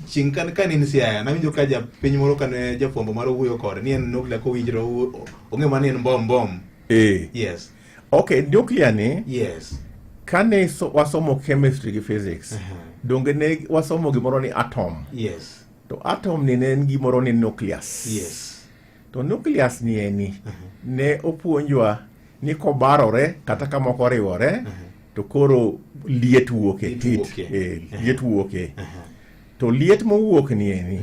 chieng' kan ka ne en Siaya nawinjo ka ja piny moro kane jafwambo moro wuoyo kode ni en nuklia kowinjre ong'e ma ni en bom bom eh. yes okay nuklia ni yes kane so, wasomo chemistry gi physics uh -huh. donge ne wasomo gimoro ni atom yes to atom ni ne en gimoro ni nucleus yes to nucleus ni eni ne opuonjwa ni kobarore kata ka moko oriwore to koro liet wuoke Liet heat, wuoke. eh, liet wuoke to liet mowuok ni eni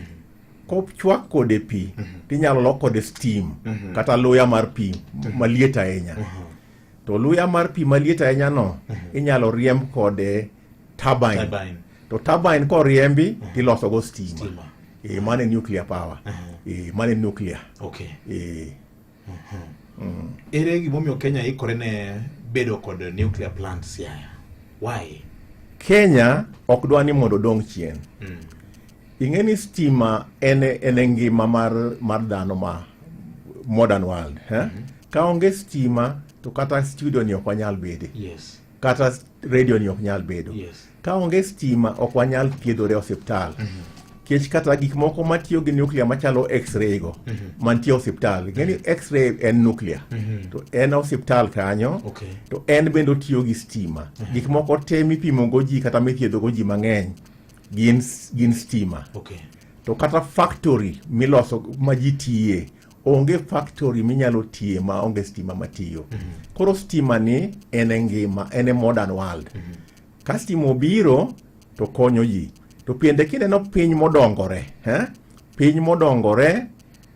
kochwak kode pi tinyalo lok kode steam kata luya mar pi maliet ahinya to luya mar pi maliet ahinya no inyalo riemb kode turbine, turbine. to turbine koriembi uh -huh. tiloso go stima, stima. E, mane nuclear power uh -huh. e, mane nuclear okay. e. uh -huh. mm. ere gimomiyo Kenya ikore ne bedo kod nuclear plants yaya why Kenya ok dwa ni mondo dong chien mm. ing'e ni stima en en ngima mar mar dhano ma modern world eh? mm -hmm. ka onge stima to kata studio ni ok wanyal bede yes. kata redio ni ok nyal bedo yes. ka onge stima ok wanyal thiedhore osiptal mm -hmm kech kata gik moko matiyo gi nuclear machalo x-ray go mm -hmm. mantie osiptal ing'e ni mhm. x-ray en nuclear mm -hmm. to en osiptal kanyo okay. to en bende otiyo gi stima mm -hmm. gik moko te mipimogo ji kata mithiedhogo ji mang'eny gin, gin stima okay. to kata factory miloso ma ji tiye onge factory minyalo tiye ma onge stima matiyo mm -hmm. koro stima ni en e ngima en e modern world mm -hmm. ka stima obiro to konyo ji to piende kineno piny modongore eh? piny modongore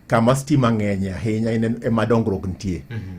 kama stima ng'eny ahinya ema dongruok nitie mm -hmm.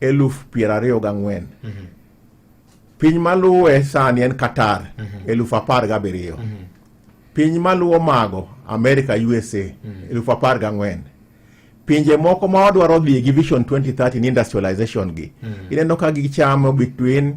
eluf piero ariyo gang'wen mhm. piny maluwe sani en Qatar mhm. eluf apar gabiriyo mhm. piny maluwo mago America USA eluf apar gang'wen pinje moko ma wadwaro dhi gi Vision 2030 ni industrialization gi ineno ka gichamo between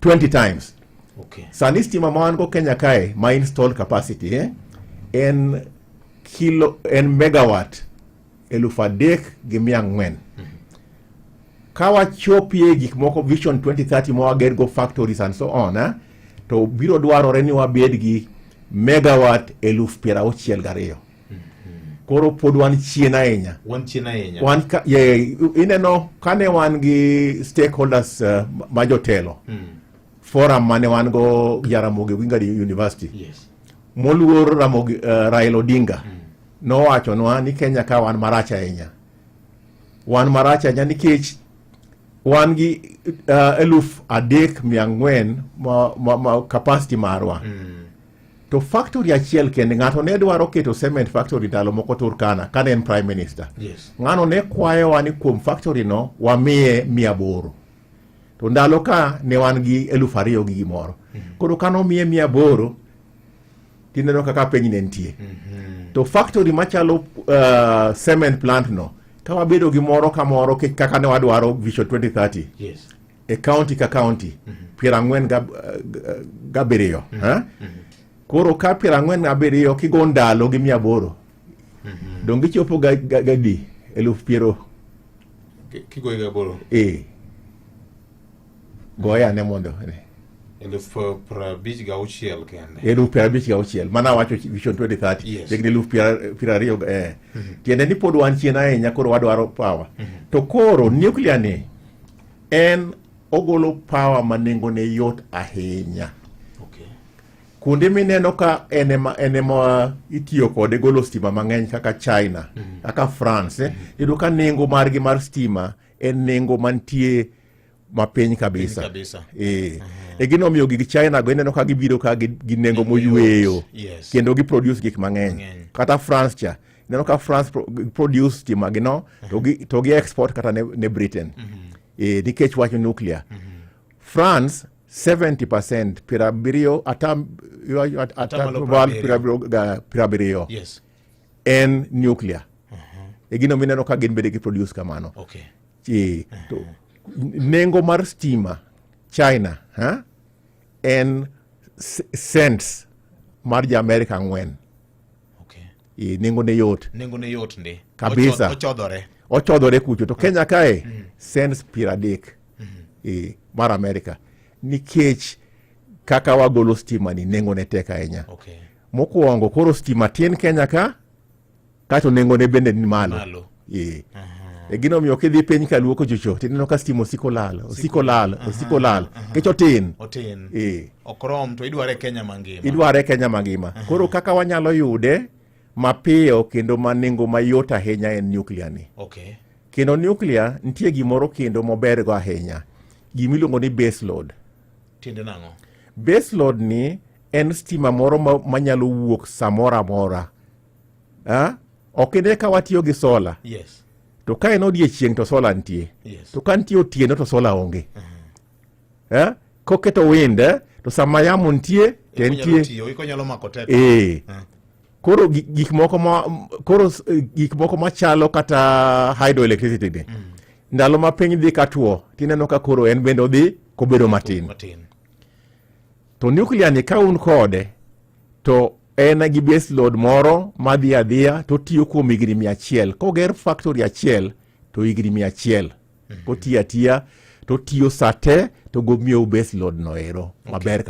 20 times okay. Sani stima ma wan go Kenya kae ma installed capacity eh? en kilo en megawatt elufu adek gi mia ang'wen mm -hmm. ka wachopie gik moko vision 2030 ma wager go factories and so on eh? to biro dwarore ni wabed gi megawatt elufu piero auchiel gariyo koro pod wan chien ahinya wan chien ahinya wan ka, ye, ineno kane wan gi stakeholders uh, ma jotelo mm. forum mane wan go Jaramogi Oginga University yes. moluor Ramogi, uh, Raila Odinga mm. nowachonwa ni Kenya ka wan marach ahinya wan marach ahinya nikech wan gi uh, eluf adek mia ang'wen ma, ma, ma capacity marwa mm. to factory achiel kende ng'ato ne dwaro keto cement factory ndalo moko Turkana kane en prime minister yes. ng'ano ne kwayowa ni kuom factory no wamiye mia boro to ndalo ka ne wan gi eluf ariyo gi gimoro mm -hmm. koro kano miye mia boro tineno kaka piny ne nitie mm -hmm. to factory machalo uh, cement plant no ka wabedo gi moro ka moro kaka ne wadwaro vision 2030 yes. e kaunti ka kaunti piero ang'wen gab- eh, gabiriyo eh? koro ka piero ang'wen gabiriyo kigo ndalo gi mia aboro donge ichopo ga- ga- gadi eluf piero Ki- kigoyi gaboro e goye ane mondo eluf eh, piero abich gauchiel kende eluf piero abich gauchiel mana wacho vision 2030 Yes. higni eluf piero piero ariyo ga- eh. tiende ni pod wan chien ahinya koro wadwaro power to koro nuclear ni En ogolo power ma nengone yot ahinya. Okay. Kuonde mineno ka en ema en ema itiyo kode golo stima mang'eny kaka China, mm -hmm. kaka France, eh, mm-hmm. yudo ka nengo margi mar stima en nengo mantie mapiny kabisa, kabisa. E. Uh -huh. e gino omiyo gig china go ineno ka gibiro ka gi nengo moyweyo yes. kendo giproduce gik mang'eny kata france cha ineno ka france pro, produce stima gi no to gi, to gi export kata ne, ne britain mm -hmm. e, nikech wacho nuclear mm -hmm. france 70 percent piero abiriyo ata at- ata Atamalo malo piero abiriyo ga- piero abiriyo yes en nuclear e gino mineno ka gin bende gi produce kamano okay Chi- to nengo mar stima china ha? en s- cents mar ja america ang'wen okay. nengo ne yot nengo ne yot ndi kabisa ochodhore ochodhore kucho to Kenya kae mm. cents piero adek mm -hmm. e, mar Amerika nikech kaka wagolo stima ni nengo ne tek ahinya okay. mokuongo koro stima tin Kenya ka kato nengo ne bende ni malo, malo. Ee. E gino omiyo kidhi piny ka luoko chocho tineno ka stima osiko lal osiko lal osiko lal kech otin otin ee okrom to idware Kenya mangima idware Kenya mangima koro kaka wanyalo yude mapiyo kendo ma nengo mayot ahinya en nuclear ni okay kendo nuclear nitie gimoro kendo mober go ahinya gima iluongo ni base load tiende nang'o base load ni en stima moro ma- manyalo wuok samoro amora ok ine ka watiyo gi sola yes. to ka en odiechieng to sola nitie yes. to ka nitie otieno to sola onge uh -huh. koketo wind eh, to sama yamo nitie to entie ee koro gik moko ma koro eh, gik moko machalo kata hydroelectricity ni mm. ndalo ma piny dhi katwo tineno ka koro en bende odhi kobedo matin, matin. to nuclear ni ka un kode to en gi base load moro madhi adhiya to otiyo kuom higni mia achiel koger factory achiel to higni mia achiel kotiyo atiya to otiyo sate to gomiyo base load no ero maber